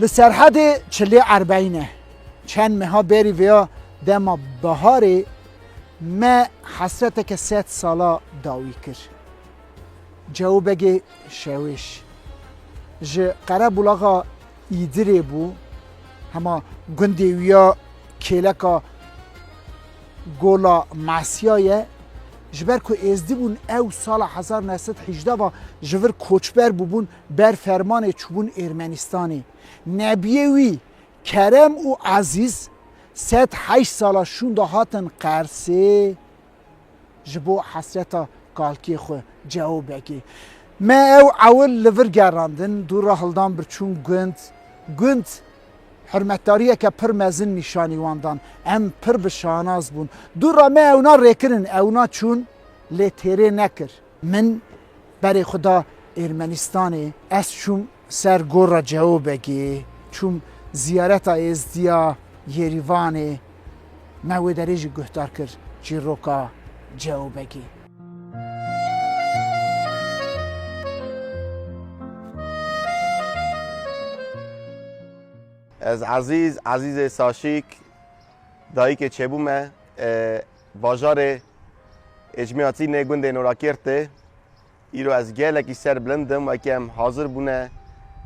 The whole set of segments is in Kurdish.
Li Serhedê çilê erbeyîn e. Çend meha berî vêya dema biharê me hesreteke sed sala dawî kir. Cewo Begê Şewêş ji qerebûlaxa Îdirê bû, hema gundê wî ya kêleka Gola Mesya ye. Ji ber ku êzdî bûn ew sala hezar neh sed hîjde ve ji vir koçber bûbûn Ber fermanê çûbûn Ermenistanê. Nebiyê wî Kerem û Ezîz sed heşt sala şûnda hatin Qersê ji bo hesreta kalkê xwe cewo vekê. Me ew ewil li vir gerandin, dû re hildan birçûn gund. Gund hurmetdariyeke pir mezin nîşanî wan dan. Em pir bi şanaz bûn. Dû re me ewna rêkirin, ewna çûn lê têrê nekir. Min berê xwe da Ermenistanê. Ez çûm ser Gora Ceobegê, çûm Ziyareta Êzdiya Yêrîvanê. Me wê derê jî guhdar kir çîroka Ceobegê. Ez Ezîz, Ezîzê Saşîk, dayîkê çêbû me. Bajarê Êcmiyatî nê gundê Norakêrtê îro ez gelekî ser bilind im weke em hazir bûne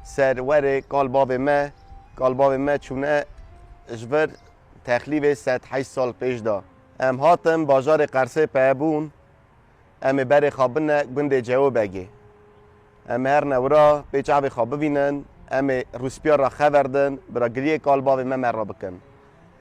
ser werê kal bavê me, kal bavê me çûne ji vir texlîvê sed heşt sal pêş de. Em hatin bajarê Qersê peye bûn em ê berê xwe bine gundê Cewobegê. Em ê her ne wira pê çavê xwe bivînin, em ê rûspiyar re xever din bira giriyê kal bavê me me re bikin.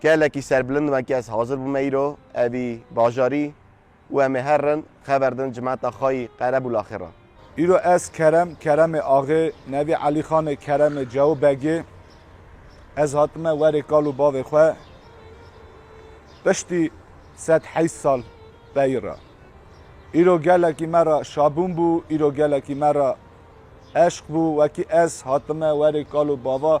Gelekî serbilind me kî ez hazir bûme îro evî bajarî û em ê her rin xeber din cimeta xayî Qerebûl Axê ra. Îro ez Kerem, Keremê Axê, nevî Elîxanê Keremê Cewo Begî, ez hatime werê kal û bavê xwe piştî sed heyst sal pey ra. Îro gelekî me ra şabûn bû, îro gelekî me ra eşq bû wekî ez hatime werê kal û bava,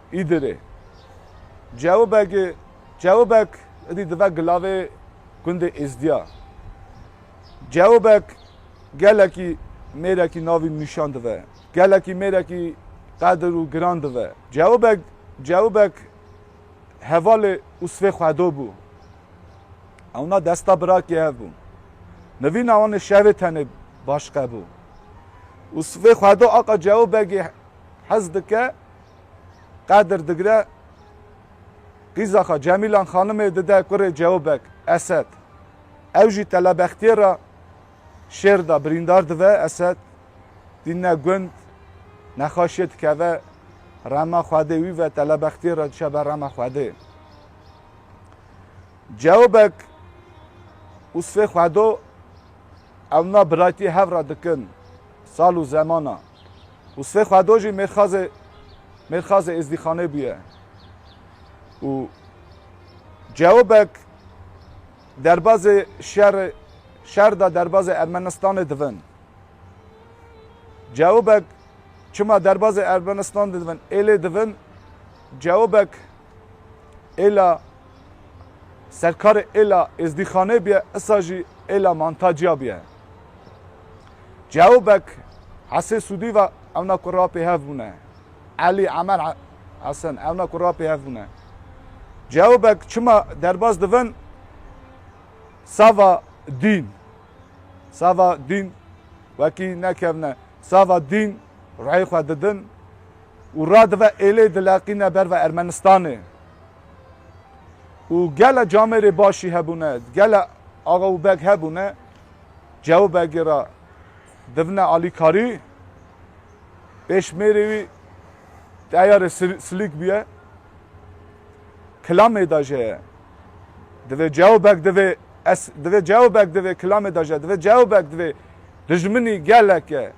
Îdirê. Cewibeg Cewibeg idî dive gilavê gundê Êzdiya. Cewibeg gelekî mêrekî navî nîşan dive. Gelekî mêrekî qedir û giran dive. Cewibeg Cewibeg hevalê û sivê xwedo bû. Ewna desta birakî hev bû. Nivîna wan ê şevê tenê baş qebû. Û sivê xwedo Aqa Cewibegê hez dike Qadir digre qîza xwe Cemîlan xanimê dide kurê Cewbek, Esed. Ew jî telebextiyê re şêr de birîndar dibe. Esed tîne gund, nexaşiyê dikeve rema xwedê wî ve telebextiyê re diçe ber rema xwedê. Cewbek û sivê xwedo ew na biraytiyê hev re dikin sal û zemana. Û sibê xwe do jî mêrxazê mêrxazê êzdîxanê bûye û cewbek derbazê şerê şer da derbazê Ermenistanê divin. Cewbek çima derbazê Ermenistanê divin êlê divin cewbek Êla serkarê Êla Êzdîxanê bîye issa jî Êla Mantaciya bîye. Cao Bek Hesê Sûdî ve ewna ku ra pêhev bûne. Elî Emer Hesen ewna ku ra pêhev bûne. Cao Bek çima derbas dibin sava dîn. Sava dîn wekî nekevne. Sava dîn ruhê xwe didin. û radive êlê dileqîne ber ve Ermenistanê û gele camêrê başî hebûne, gele axa û beg hebûne cew begê re divine alîkarî, pêşmêrê wî teyarê silîk bûye, kilamê de jê divê cew beg divê es divê cew beg divê kilamê de jê divê cew beg divê dijminî geleke.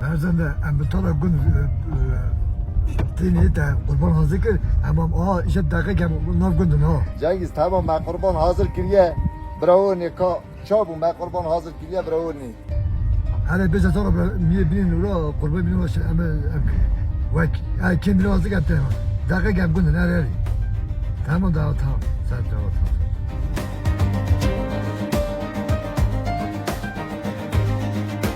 Berzende em bi tala gund tênê te qurban hazir kir hemam a îşe deqe ke nav gundin ha. Cengiz tamam me qurban hazir kiriye birawonê ka çabû me qurban hazir kiriye birawonê. Hele bêje tala miyê binê nûra qurban binê waşe em em wek ay kêm binê hazir kir te deqe ke em gundin her herî. Tamam da tamam. Sen tamam.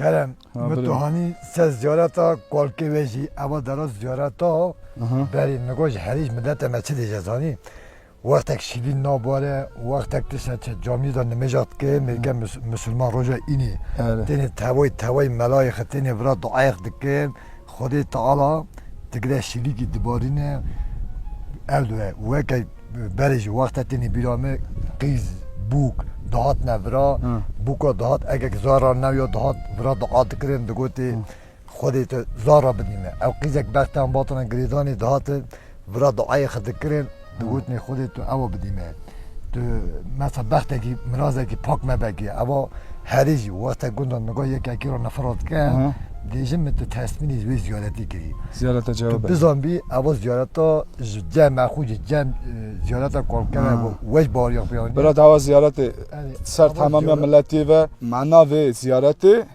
Kerem, mi tu hanî se ziyareta kolkê wê jî eva dera ziyareta berî mi got ji herî ji midete me çi dê zanî. Wextek şîvîn nabare, wextek tişta çi camî de nimêja dike, mêrge misilman roja înî têne tewey tewey melayê xi têne vira duayê xi dike, Xwedê Teala tigre şîlîkî dibarîne, erdwe weke berê jî wexte têne bîra me qîz, bûk dihatine vira, bûka dihat ekek zar ra newya dihat vira dua dikirin, digotê, Xwedê te zar re bidîme. Ew qîzek bextê an batine girêdanê dihate vira duayê xwe dikirin, digotinê Xwedê tu ew bidîme. Tu mesa bextekî mirazekî pak mebe kî eva herî jî wexte gunda niga yek ekî ra nifira dike dê jin min tu tesmînî wê ziyaretî kirî. Ziyareta cem Tu bizanbî eva ziyareta ji cem e xwe ji cem ziyareta kolker e weş bariya xwe anî. Bira dawa ziyaretê ser tamamiya miletî ve mana vê ziyaretê.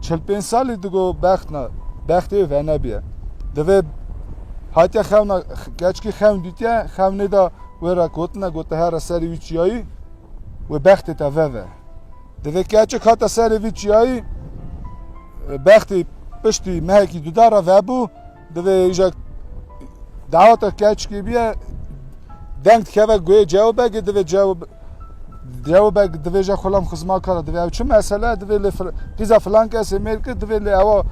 çil pênc salî digo bexna bextê wê venebîye. Divê hatiye xewna keçkî xewn dîtiye, xewnê de wê re gotine gote here serê wî çiyayî wê bextê te veve. Divê keçik hate serê vî çiyayî bextê piştî mehekî duda re vebû. Divê îjek daweta keçkî biye deng dikeve guê cewbegê divê cew cewbeg divê je xulam xizma kara divê ew çi mesele divê lê pîza filan kesê mêr kir divê lê ewa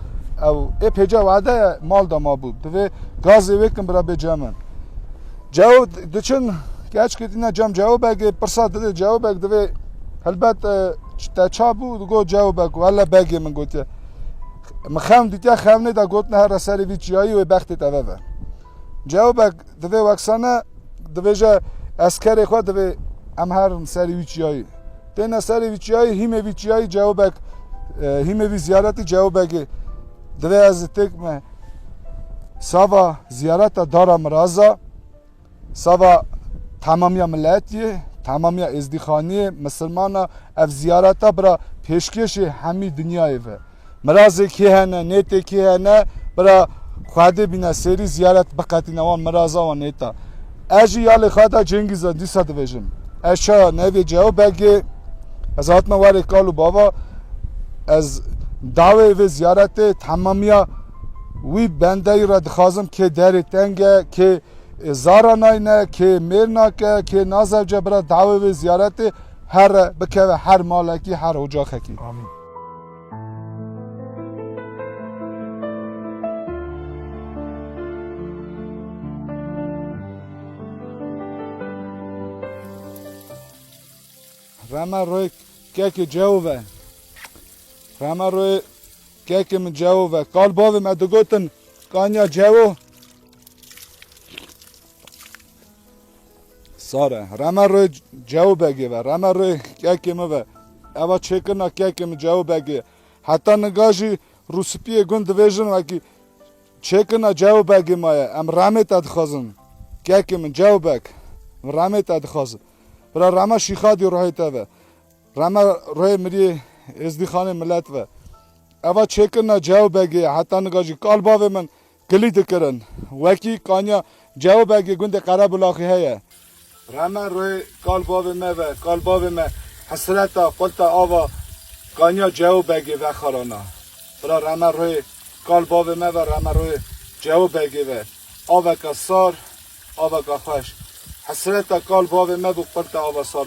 ew ê pêca wade mal da mabû divê gazê wê kin bira bê cemin cew diçin keçkî dîna cem cewbegê pirsa divê cewbeg divê helbet te çabû digot cewbeg wele begê min gotiye Min xewn dîtiya xewnê de got nehera serê vî çiyayî wê bextê te veve. Cewbek divê weksane dibêje ez kerê xwe divê em herin serê wî çiyayî. Têne serê vî çiyayî hîmê vî çiyayî cewbek hîmê vî ziyaretî cewbekê divê ez têk me sava ziyareta dara miraza. Sava temamiya miletiyê, temamiya êzdîxaniyê, misilmana ev ziyareta bira pêşkêşê hemî dinyayê ve. Mirazê kê hene, nêtê kê hene bira xwedê bîne sêrî ziyaret biqetîne wan miraza wan nêta. Ez jî ya li xweda Cengîz a dîsa dibêjim. Ez çawa nevê Ceo Begê ez hatima warê kal û bava ez dawê vê ziyaretê temamiya wî bendeyî re dixwazim kê derê teng e, kê Ê zara nayne, kê mêr nake, kê nazewce bira dawê wê ziyaretê here bikeve her malekî, her ocaxekî. Amîn. Rema royê kekê cewo ve. Rema royê kekê min cewo ve. Kal bavê me digotin kanya cewo Sare, reme rê cew begê ve, reme rê kekê min ve. Eva çêkirina kekê min cew begê. Heta niga jî rûspiyê gund divêjin wekî çêkirina cew begê ma ye. Em remê te dixwazin. Kekê min cew bek. Em remê te dixwazin. Bira reme şîxadî ruhê te ve. Reme ruhê miriyê êzdîxanê milet ve. Eva çêkirina cew begê ye. Heta niga jî kal bavê min Kilî dikirin. Wekî kanya Cewbegê gundê Qerebulaxê heye. Reme rê kal bavê me ve, kal bavê me hesreta qulta ava kanya Cewbegê vexarana. Bira reme rê kal bavê me ve, reme rê Cewbegê ve. Aveka sar, aveka xweş. Hesreta kal bavê me bû qulta ava sar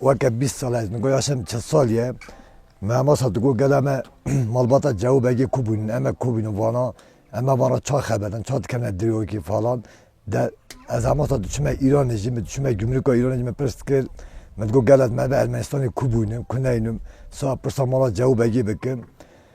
Weke bîst sal e, ez nigû yaşem çil sal ye. Me hema sal digot gela me malbata Cewû Begê ku bûn, em e ku bûn vana em e van re ça xeber in, ça dikevne dirokî falan. De ez hema sal diçûme Îranê jî, min diçûme gumrûka Îranê jî min pirs dikir, min digot gela me ve Ermenistanê ku bûn in, ku neynin, sal pirsa mala Cewû Begê bikin.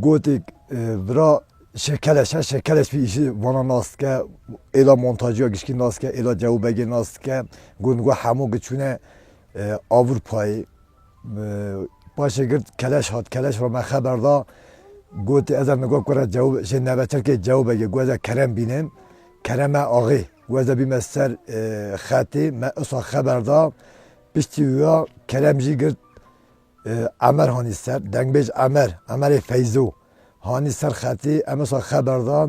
Gotik vira şekeleş e, şekeleş vî îşi vana nas dike, êla montajîya gişkî nas dike, êla cewbegê nas dike, got got hemû gi çûne Ewrûpayê. Paşê girt keleş hat, keleş ra me xeber da, got ez ê nigo kure jewbegê nevetirkê jewbegê got ez ê kerem bînim, kerem e axê, got ez ê bîme ser xetê, me usa xeber da, piştî wiya kerem jî girt, Emer hanî ser, dengbêj Emer, Emerê Feyzo, hanî ser xetê, emsa xeber da.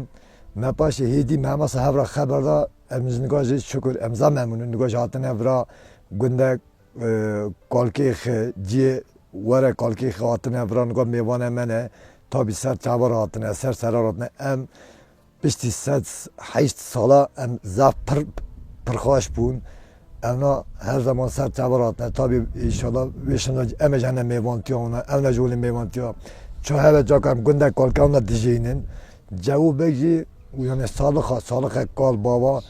Me paşê hêdî me emsa hev ra xeber da. Em ji nika jê şukur emsa memnûn in. Nika jê hatine vira gundek Kalkêx ciyê were Kalkêxê hatine vira. Nika mêvane me ne tabî ser çavan re hatine, ser seran re hatine. Em Piştî sed heşt sala em zaf pir pirxweş bûn. Ewna her zeman ser tevir hatine. Tabî înşala wê şina em e ji hene mêvantiya wan e, ewna ji holê mêvantiya çi hebe caka em gundek kalkewna dijînin. Cewûbeg jî yani salixa, salixek kal bava.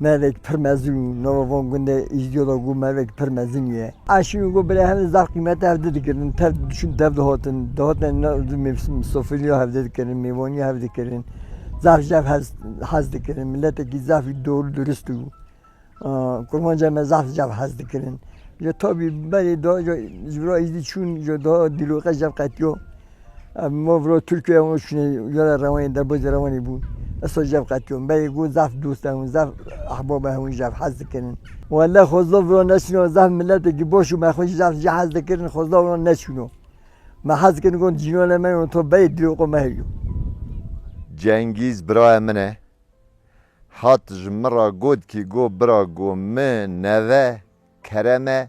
Mevek pir mezin û nava van gundê Îzdiyo de got mevek pir mezin ye. Aşîn û got bila hevdê zaf qîmete hevdê dikirin. Tev dişûn tev dihatin. Dihatin na mevsim sofiliya hevdê dikirin, mêvaniya hev dikirin. Zaf ji hev hez hez dikirin. Miletekî zafî dol durist û kurmanca me zaf ji hev hez dikirin. Ji tabî berê da ji ji bira Îzdî çûn ji da dîloqe ji hev qetiya. Em ma viro Tirkiyeyê hûn çûnê cera rewanê derbû jî rewanê bûn. Esta jev qetiyon. Beyê got zaf dost e hûn, zaf ehbab e hûn jev hez dikirin. Wele xwezdo viro neçûno zaf miletekî baş û me xwe jî zaf jê hez dikirin xwezdo viro neçûno. Me hez dikirin got cînanê me yo to beyê dilo xwe me hêjo. Cengîz birayê min e. Hat ji min ra got kî got bira got min neve Kerem e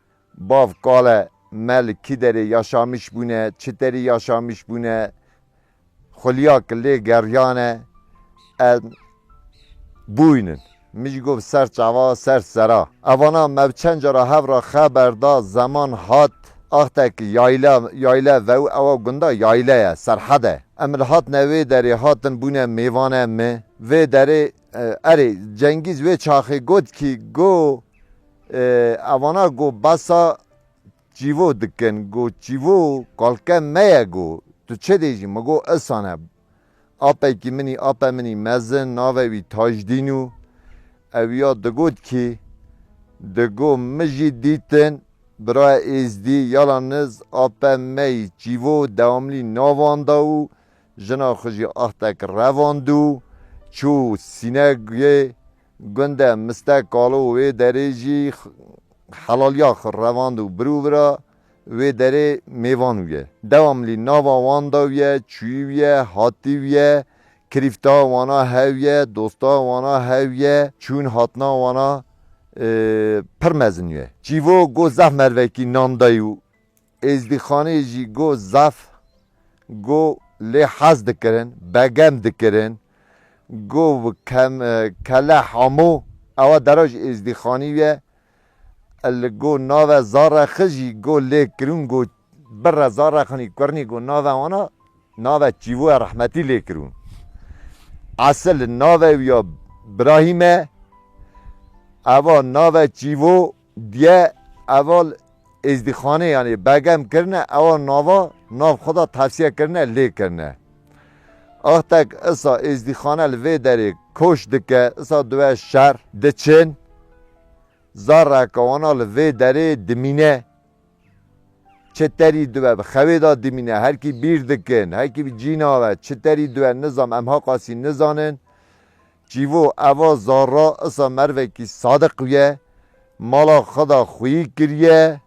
Bav kale me li kî derê yaşamiş bûne, çi terî yaşamiş bûne, xulîya ki lê geriyane em bûyn in. Min jî got ser çava, ser sera. Evana me bi çend cara hev re xeber da zeman hat axte ki yayla, yayle vew ewa gunda yayle ye, serhed e. Em li hatine wê derê hatin bûne mêvane mi. Vê derê. Erê, Cengîz wê çaxê got kî go evana go besa çîvo dikin, go çîvo kalke me ye go tu çi dê jî mi go isan e. Ape kî min î ape min î mezin nave wî Tajdîn û ew ya digot kî di go mi jî dîtin biraye êzdî yala niz ape me î çîvo dewamlî navan da û Jina xwe jî axtek revand û çû Sîneguyê. Gunde Mistek Kalo wê derê jî helaliya xwe revand û birûvira wê derê mêvan wiye. Dewamlî nava wan da wiye, çûyî wiye, hatî wiye, kirîfta wana hev ye, dosta wana hev ye, çûn hatina wana pir mezin wiye. Çîvo got zehf mervekî nan dayî û Êzdîxanê jî got zaf got lê hez dikirin, begem dikirin. Got kele hamo ewa deroj êzdîxanî ye. Li got nave Zarexi jî got lê kirûn got birre Zarexinî Kurnî got nave wana nave Çîvoya Rehmetî lê kirûn. Esil nave wî ya Birahîm e. Ewa nave Çîvo. Diye eval êzdîxanê yanî begem kirine ewa nava nav xwe da tevsiye kirine lê kirine. Axtek isa êzdîxane li vê derê koş dike isa diwe şer diçin zarreke wana li vê derê dimîne çi terî diwe bi xewê da dimîne herkî bîr dikin herkî bi cîna ve çi terî diwe nizam em haqasî nizanin Çîvo eva zarra isa mervekî sadiq ye, mala xwe da xwîyî kiriye,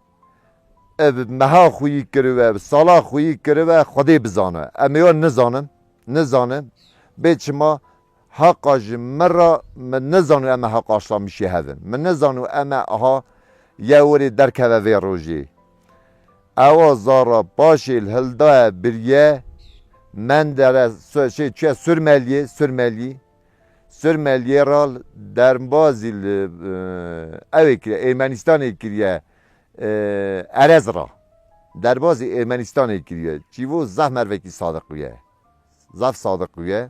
ev meha xwîyî kiribe, ev sala xwîyî kiribe Xwedê bizane. Em ê wan nizanin, nizanin. Bê çima heqa ji min re min nizanî em ê heqa Şamişê hevin. Min nizanî em ê aha yew werî derkeve vê rojê. Ewa zara paşê li hildaye biriye Mendere şê çiye Surmeliyê, Surmeliyî, Surmeliyê ra derbazî li ewê kiriye Ermenistanê kiriye Erez ra. Derbazî Ermenistanê kiriye. Çîvo zaf mervekî sadiq bûye. Zaf sadiq bûye.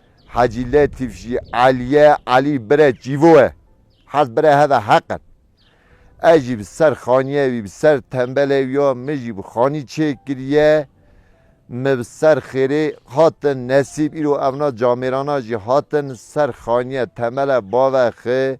Hacî Letîf jî Elîye Elî bire çîvo ye. Hez bire heve heq in. Ez jî bi ser xanîyê wî, bi ser tembelê wî ya min jî bi xanî çê kiriye. Mi bi ser xêrê hatin nesîb îro evna camêrana jî hatin ser xanîye tembele bave xi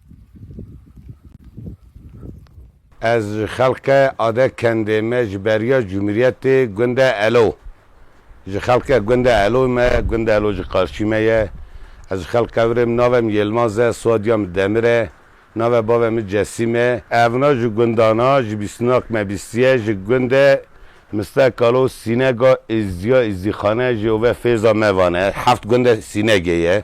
Ez ji xelke Ade Kendê me ji beriya Cumhuriyetê Gunde Elo ji xelke Gunde Eloy me Gunde Elo ji Qarçî me ye Ez ji xelke virêm nave min Yelmaz e soadiya min Demir e nave bave min Cesîm e. Evna ji gundana ji bîstinak me bîstiye ji Gunde Miste Kalo Sînega Îzdiya Îzdîxane jê û ve Fêza me vane heft Gunde Sînegê ye.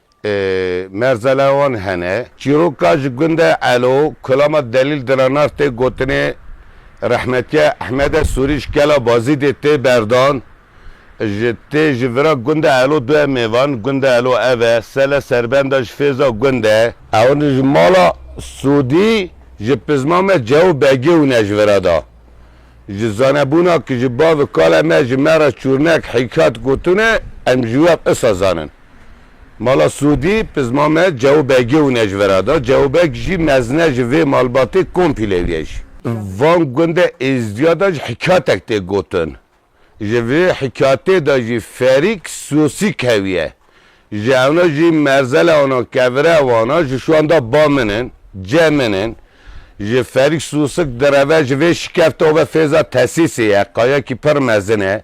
Merzele wan hene. Çîroka ji gunde Elo, Kulama Delîl Diranar tê gotinê rehmetiya Ehmede Sûrî ji kela Bazîdê tê berdan. Ji tê ji vira gunde Elo duye mêvan, gunde Elo ev e, sele serbenda ji fêza gunde. Ewin ji mala Sûdî ji pizma me Cew Begî wine ji vira da. Ji zanebûna ki ji bavê kale me ji me re Çûrnek Hîkat gotine, em ji we ev isa zanin. Mala Sûdî, Pizma me Cewo Begê û Nejvera da. Cewo Beg jî mezine ji vê malbatê Kompîlê ye jî. Van gunde Êzdiya da jî hikayetek tê gotin. Ji vê hikayetê da jî Ferîk Sosî keviye. Ji ewna jî merzela wana kevire wana ji şiwan da ba min in, ce min in. Ji Ferîk Sosik direve ji vê şikefte û ve fêza tesîsê ye, qayekî pir mezin e.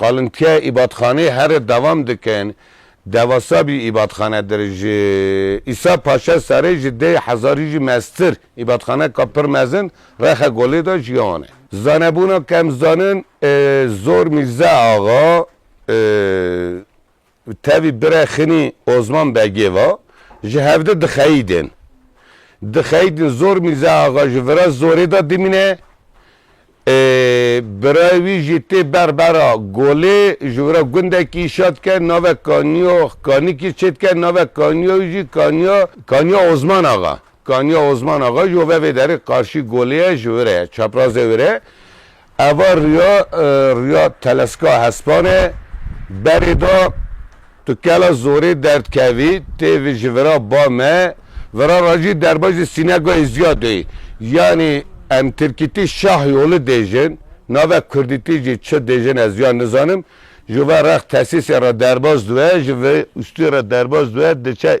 Qalintiya îbadxaneyê here devam dikin. Dewasa bî îbadxane dir. Ji Îsa Paşa serê ji deh hezarî jî meztir îbadxaneka pir mezin Rexe Golê de ji wan e. Zanebûna kemzanin Zor Mîrze Axa. Tevî bire Xinî Ozman Begê va, Ji hevde dixeyîdên. Dixeyîdin zor Mîrza Axa ji vira zorê de dimîne. Birayê wî jî tê ber bera Golê ji vira gundekî îşa dike navek Kaniyo Kanikî çê dike navek Kaniyo wî jî Kaniya Kaniya Ozman Axa Kaniya Ozman Axa jî ove vê derê qarşî Golê ye ji vira ye çaprazê wê re Eva riya riya teleska hespanê berê da tu kela zorê derdkevî tê vî ji vira ba me vira ra jî derbajê sînegayê zîya de yî. Yanî em tirkîtî şah yoli dêjin nave kurdîtî jî çi dêjin ez ya nizanim. Ji ve rex tesîsê re derbas diwe ji vê ustê re derbas diwe diçe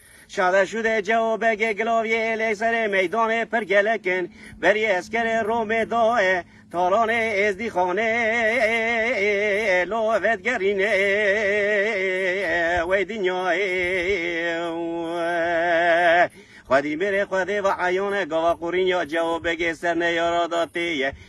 Şada şûdê cewo begê gilavyê êlê serê meydanê pir gelek in. Berî eskerê Romê daye talanê êzdîxanê lo vedgerîne wey dinyayê xwedî mêrê xwedê va eyane gava qurînya cewo begê serneyara da têye.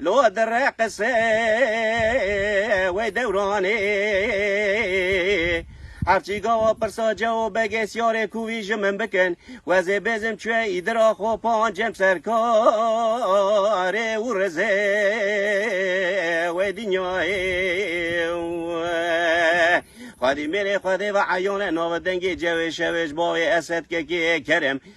Lo dire qise wê dewranê her çî gawa pirsa cewo begê siyarê ku wî ji min bikin wezê bêzim çûye îdira xwe pan cem ser karê û rizê wê dinyayê xwedî mêrê xwedê ve eyane navê dengê cewê şewê ji bavê Esed Kekê Kerem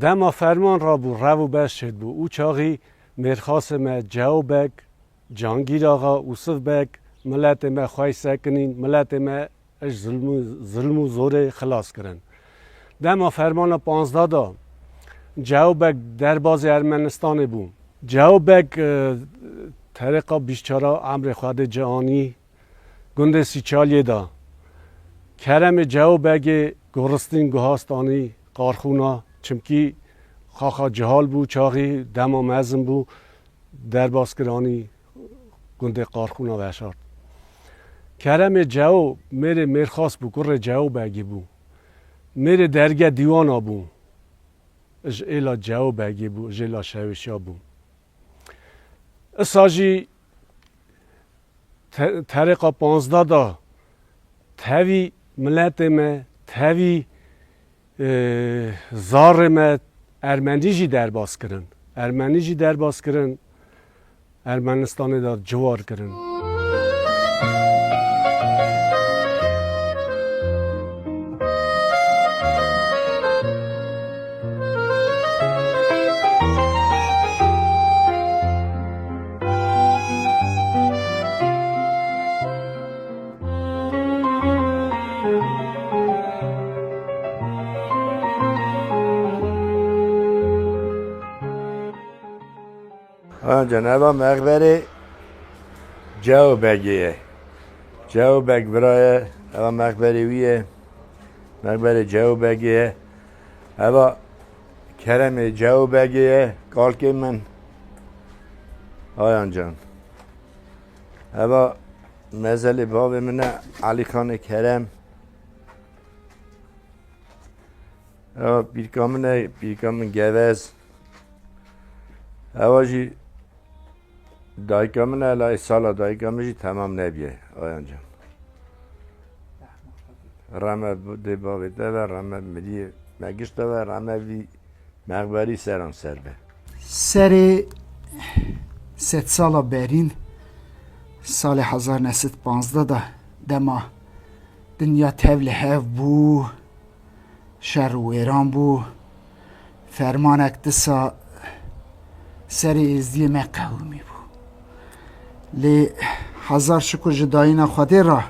Dema ferman rabû rev û beş çêdibû û çaxî mêrxasê me Ceo Beg Cangîr Axa, Wisif Beg, Miletê me xwey sekinîn, miletê me ej zilm û zorê xilas kirin. Dema fermana panzda da, Cew Beg derbazê Ermenistanê bû. Cew Beg terêqa bîst çar a emrê xwe dê ci anî gundê Sîçaliyê da. Keremê Cew Begê goristîn guhast anî Qarxûna, çimkî xaxa cihal bû çaxî, dema mezin bû. derbas kir anî gundê Qarxûna veşart. Keremê Ceo mêrê Mêrxas bû, kurê Ceo Begî bû. Mêrê derge dîwana bû. Ji êla Ceo Begî bû, jê la Şewêşa bû. Isa jî terêqa panzda da tevî miletê me, tevî Zarê me ermenî jî derbas kirin. Ermenî jî derbas kirin. Ermenistanê de ciwar kirin. Ceneba Mexberê Cew Begê ye. Cew Beg bira ye, eva Mexberê wî ye. Mexberê Cew Begê ye. Eva Keremê Cew Begê ye, kalkê min. Ayan can. Heva mezelê bavê min e Elî Xanê Kerem. Heva pîrka min e pîrka min gevez. Heva jî dayika min e lay sala dayika min jî temam nebye ayan can. Rame dê bavê te ve rame miriyê me gişt te ve rame vî Mexberî seran ser be. Serê sedsala berîn salê hezar ne sed panzdeh de dema dinya tev li hev bû, şer û wêran bû, fermanek disa serê êzdiyê me qewimî bû. Lê hezar şikur ji dayîna Xwedê re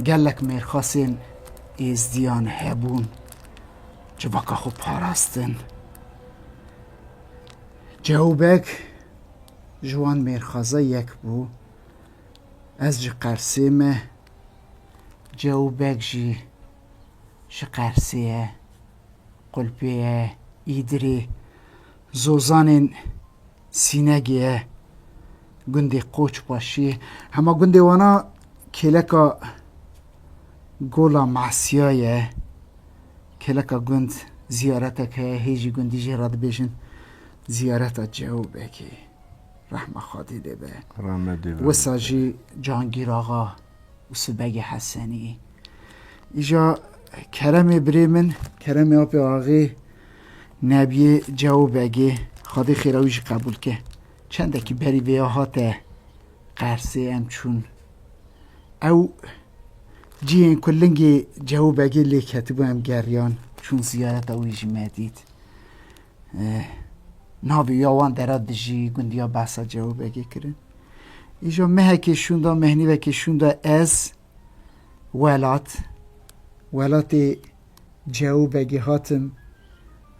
gelek mêrxasên êzdiyan hebûn. Civaka xwe parastin. Cewbek ji wan mêrxaza yek bû. Ez ji Qersê me. Cewbek jî ji Qersê ye. Qulpê ye, Îdirê. Zozanên Sînegê ye gundê Qoçbaşiyê. Hema gundê wan a kêleka Gola Masîya ye. Kêleka gund zîyaretek heye, hê jî gundî jê re dibêjin Zîyareta Cewbekê. Rehma Xwedê lê be. Wisa jî Cangîraxa. û sibegê Heseniyê. Îja Keremê birê min, Keremê apê axê Nebiyê Cewo Begê, Xwedê xêra wî jî qebûl ke. Çendekî berî vêya hate Qersê em çûn. Ew cihên ku lingê Cewo Begê lê ketibû em geriyan, çûn ziyareta wî jî me dît. Navê ya wan dera dijî gundiya behsa Cewûbegê kirin. Îjo mehekê şûnda mehnîvekê şûnda ez welat welatê Cewûbegê hatim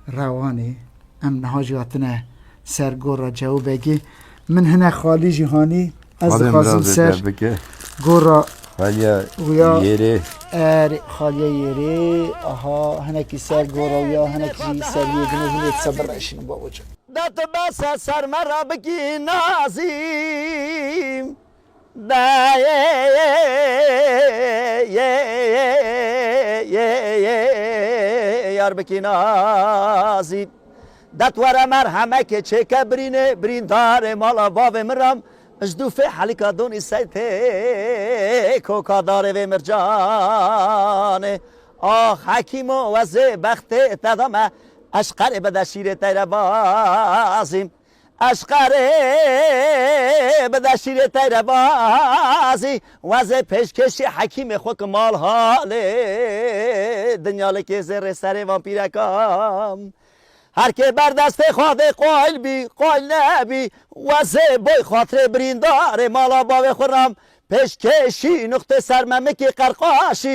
rewanê. Em niha jî hatine ser gora Cewûbegê Min hinek xalî jî hanî. Ez dixwazim ser gora xaliya yêrê. Erê xaliya yêrê. Aha hinekî ser gora ya hinekî jî ser yê din hûn ê disa bireşînin bawica. Da tu bes e ser me re bikî nazîm. Diyarbekî Nazî Dat were merhemekê çêke birînê Birîndarê mala bavê min re Ji dû fê helika donî sey tê Koka darê vê mircanê Ax Hekîmo wezê bextê te da me Eşqerê bide şîrê teyre bazî. Eşqerê bide şîrê teyre bazî wezê pêşkêşî hekîmê xwe ki mal halê dinya li kêzê rê serê van pîreka her kê ber destê xwe dê qayl bî qayl nebî wezê boy xatirê birîndarê mala bavê xwe ram pêşkêşî nuqtê sermemikî qerqaşî